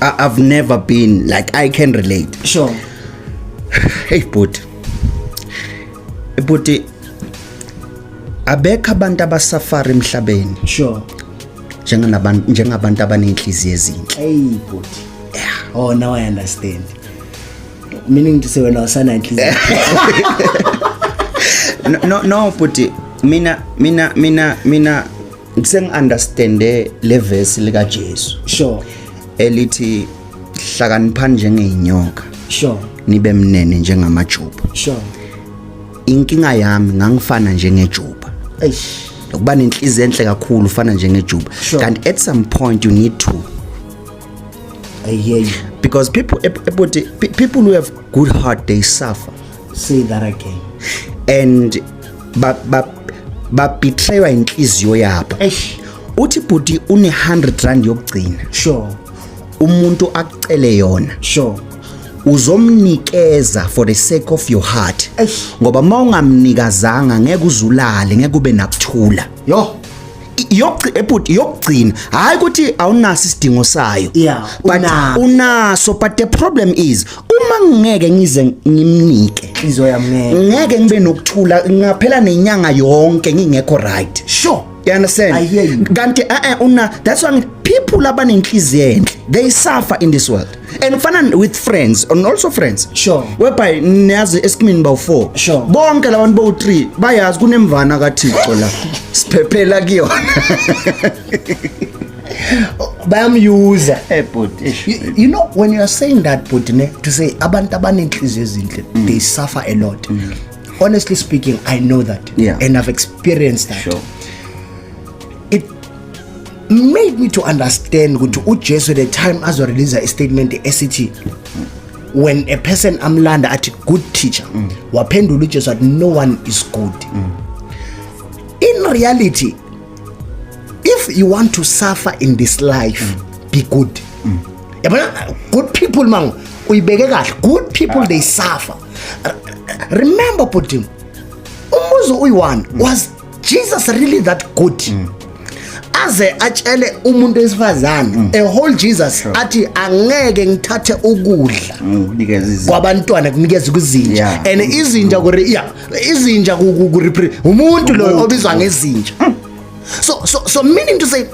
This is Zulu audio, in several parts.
I, I've never been like I can relate. Sure. Hey bhuti. Bhuti abekho abantu abasafari emhlabeni. Sure. Njengabantu njengabantu abanenhliziyo ezinhle. Hey bhuti. Yeah. Oh now I understand. Meaning to say wena usana inhliziyo. no no bhuti mina mina mina mina sengi-understande le vesi likajesu sure elithi hlakaniphani njengeyinyoka sure nibe mnene njengamajuba sure inkinga yami ngangifana njengejuba eish ukuba nenhliziyo enhle kakhulu ufana njengejuba sure. kanti at some point you need to ayey because people people who have good heart they suffer say that again and ba ba ba betraywa inhliziyo yabo eish uthi bhuti une 100 rand yokugcina sure umuntu akucele yona sure uzomnikeza for the sake of your heart ngoba mawungamnikazanga ngeke uzulale ngeke ube nakuthula yo ebhuti yokugcina hayi ukuthi awunaso isidingo sayo yeah, but unaso. unaso but the problem is uma ngeke ngize ngimnike izoya mngeke ngeke ngibe nokuthula ngaphela nenyanga yonke ngingekho right sure you understand I hear you. kanti eh, eh una that's why people abanenhliziyo enhle they suffer in this world and kufana with friends and also friends sure whereby niyazi esikimini bawu-four sure bonke la bantu bowu-three bayazi kunemvana kathixo la siphephela kuyona bayamyuza eh, you, you know when you are saying that bhuti ne to say abantu abanenhliziyo ezinhle mm. they suffer a lot mm. honestly speaking i know that yeah. and i've experienced that sure. made me to understand ukuthi uJesu the time azo release a statement esithi when a person amlanda athi good teacher mm. waphendula uJesu athi no one is good mm. in reality if you want to suffer in this life mm. be good mm. yabona good people mangu uyibeke kahle good people they suffer remember putin umuzi uyi-one was Jesus really that good mm. aze atshele umuntu wesifazane mm. a whole Jesus sure. athi angeke ngithathe ukudla mm, kwabantwana kunikeza kuzinja yeah. and mm. izinja ku yeah izinja ku umuntu lo obizwa ngezinja mm. so so so meaning to say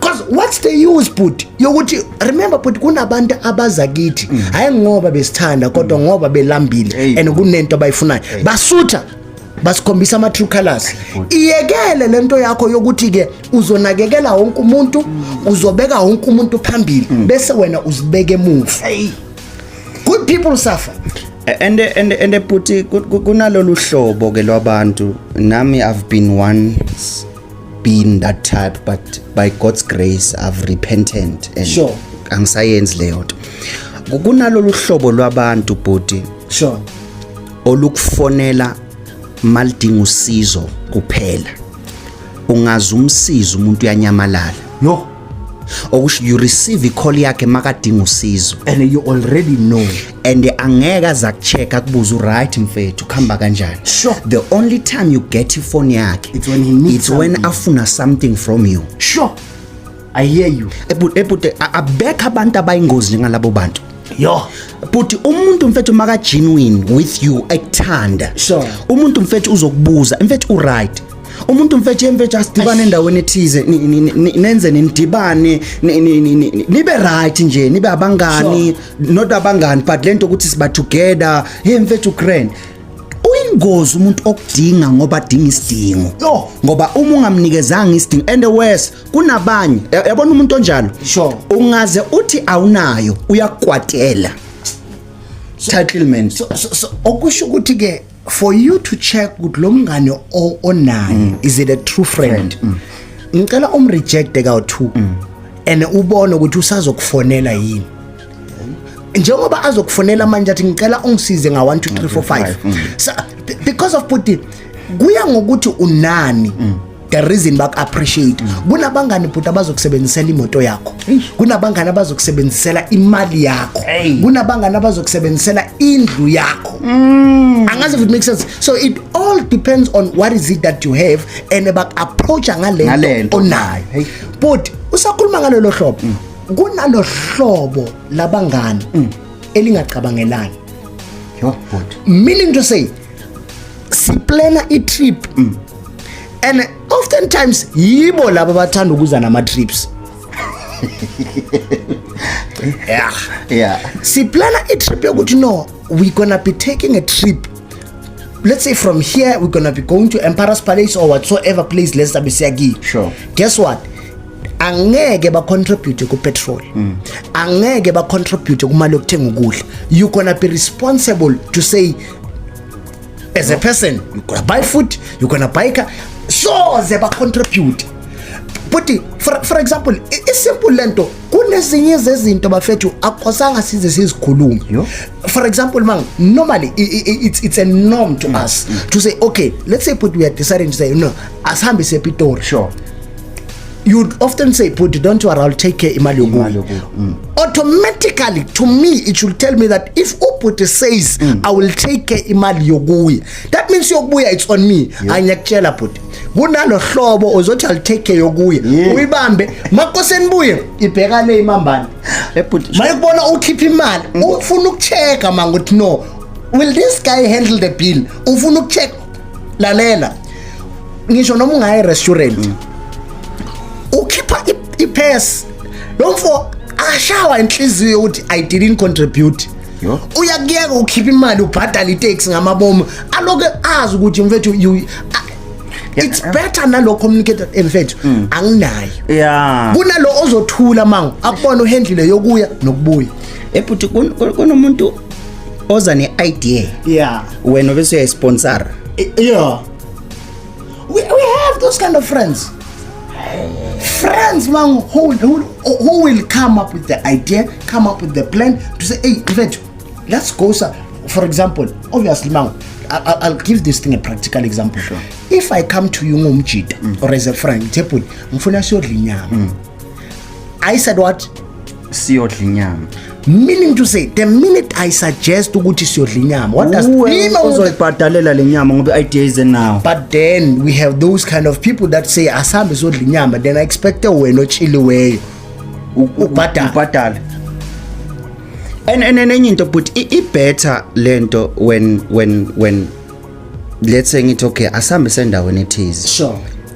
Cause what's the use bhuti yokuthi remember bhuti kunabantu abaza kithi mm. hayi ngoba besithanda kodwa mm. ngoba belambile and kunento abayifunayo basutha basikhombisa ama true colors iyekele lento yakho yokuthi ke uzonakekela wonke umuntu mm. uzobeka wonke umuntu phambili bese wena uzibeke emuva good people suffer and and and bhuti kunalolu hlobo ke lwabantu nami i've been once been that type but by God's grace I've repented and sure. angisayenzi leyo nto kunalolu hlobo lwabantu bhuti sure olukufonela malidinga usizo kuphela ungazi umsiza umuntu uyanyamalala no okusho you receive i-call yakhe makadinga usizo and you already know and angeke aza kuchecka kubuza uright mfethu kuhamba kanjani sure the only time you get ifoni yakhe it's when he needs it's something. when afuna something from you sure i hear you ebhuti abekho abantu abayingozi njengalabo bantu yo but umuntu mfethu maka genuine with you ekuthanda sure umuntu mfethu uzokubuza mfethu uright umuntu mfetshe mfetshe asidibane endaweni ethize nenze nindibane nibe right nje nibe abangani not abangani but lento ukuthi siba together hey mfethu grand ingozi umuntu okudinga ngoba adinga isidingo yo ngoba uma ungamnikezanga isidingo and worse kunabanye yabona umuntu onjalo sure ungaze uthi awunayo uyakwatela settlement so, so, so okusho ukuthi ke for you to check ukuthi lo mngane onaye mm. is it a true friend mm. ngicela um reject ka two mm. and ubone ukuthi usazokufonela yini njengoba azokufonela manje athi ngicela ungisize nga 1 2 3 4 5 because of puti kuya ngokuthi unani the reason baku appreciate kunabangani bhuti abazokusebenzisela imoto yakho kunabangani abazokusebenzisela imali yakho kunabangani abazokusebenzisela indlu yakho mm. angazi if it makes sense so it all depends on what is it that you have and baku approacha ngalento onayo but usakhuluma ngalelo hlobo mm. kunalo hlobo labangani mm. elingacabangelani meaning to say siplana i-trip mm. and oftentimes yibo laba bathanda ukuza nama trips yeah yeah siplana i trip yokuthi no we gonna be taking a trip let's say from here we're gonna be going to emperor's palace or whatsoever place let's be siyakiyo sure guess what angeke bacontribute kupetrol mm. angeke bacontribute kumali yokuthenga ukudla you gonna be responsible to say as a person you gonna buy food you gonna buy car soze bacontribute buti for, for example isimple lento kunezinye zezinto bafethu akosanga size sizikhulume for example mang normally it's, it's a norm to mm. us mm. to say okay let's say but we are deciding to say no asihambe sepitori sure you'd often say bhuti don't worry i'll take care imali yokuyo mm. automatically to me it should tell me that if ubhuti says mm. i will take care imali yokuya that means yokubuya it's on me yeah. angiyakutshela bhuti kunalo hlobo ozothi i'll take care yokuya yeah. uyibambe makoseni buye ibheka le imambane ebhuti eh, mayekubona ukhipha imali mm. ufuna ukucheka mangothi no will this guy handle the bill ufuna ukucheka lalela ngisho noma ungayi restaurant mm. ukhipha ipass lo mfo ashawa inhliziyo ukuthi i didn't contribute uyakuyeka ukhipha imali ubhadala itaxi ngamabomu aloke azi ukuthi mfethu it's better nalo communicator emfethu eh, mm. anginayo yeah kunalo ozothula mangu akubona uhendlile yokuya nokubuya ebuthi kunomuntu oza ne-idea yeah wena obese uyayisponsora yeah we, we have those kind of friends friends mangu who, who, who will come up with the idea come up with the plan to say hey mfethu let's go sir for example obviously mangu I'll, I'll give this thing a practical example sure. if i come to you ngomjita mm. or as a friend ngithe bhuti ngifuna siyodla inyama mm. i said what siyodla inyama meaning to say the minute i suggest ukuthi siyodla inyama what does mean uzoyibhadalela le nyama ngoba idea is now but then we have those kind of people that say asambe sodla inyama then i expect wena ochiliweyo ubhadala ubhadala and and enye into but i better lento when when when let's say ngithi okay asambe sendaweni ethize sure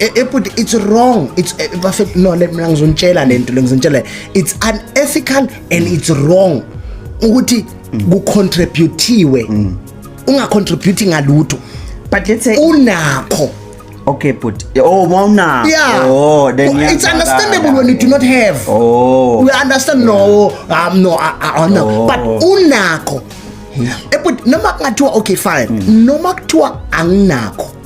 Eh, eh, but it's wrong it's eh, bafethu no let mina ngizonitshela lento lengizonitshela it's unethical and it's wrong ukuthi kucontributiwe mm. ungacontribute ngalutho but let's say unakho okay but oh mawuna yeah. oh then well, it's understandable when you do not have oh we understand no um no uh, uh, no oh. but unakho hmm. but noma kungathiwa okay fine hmm. noma kuthiwa anginakho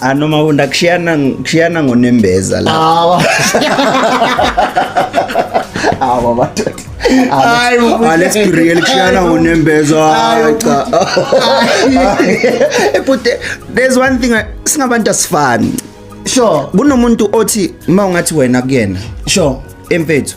anoma ah, unda kushiyana kushiyana ngonembeza la awa awa madoda hayi alex real kushiyana ngonembeza hayi cha ebute eh, there's one thing singabantu asifani sure kunomuntu othi uma ungathi wena kuyena sure emfethu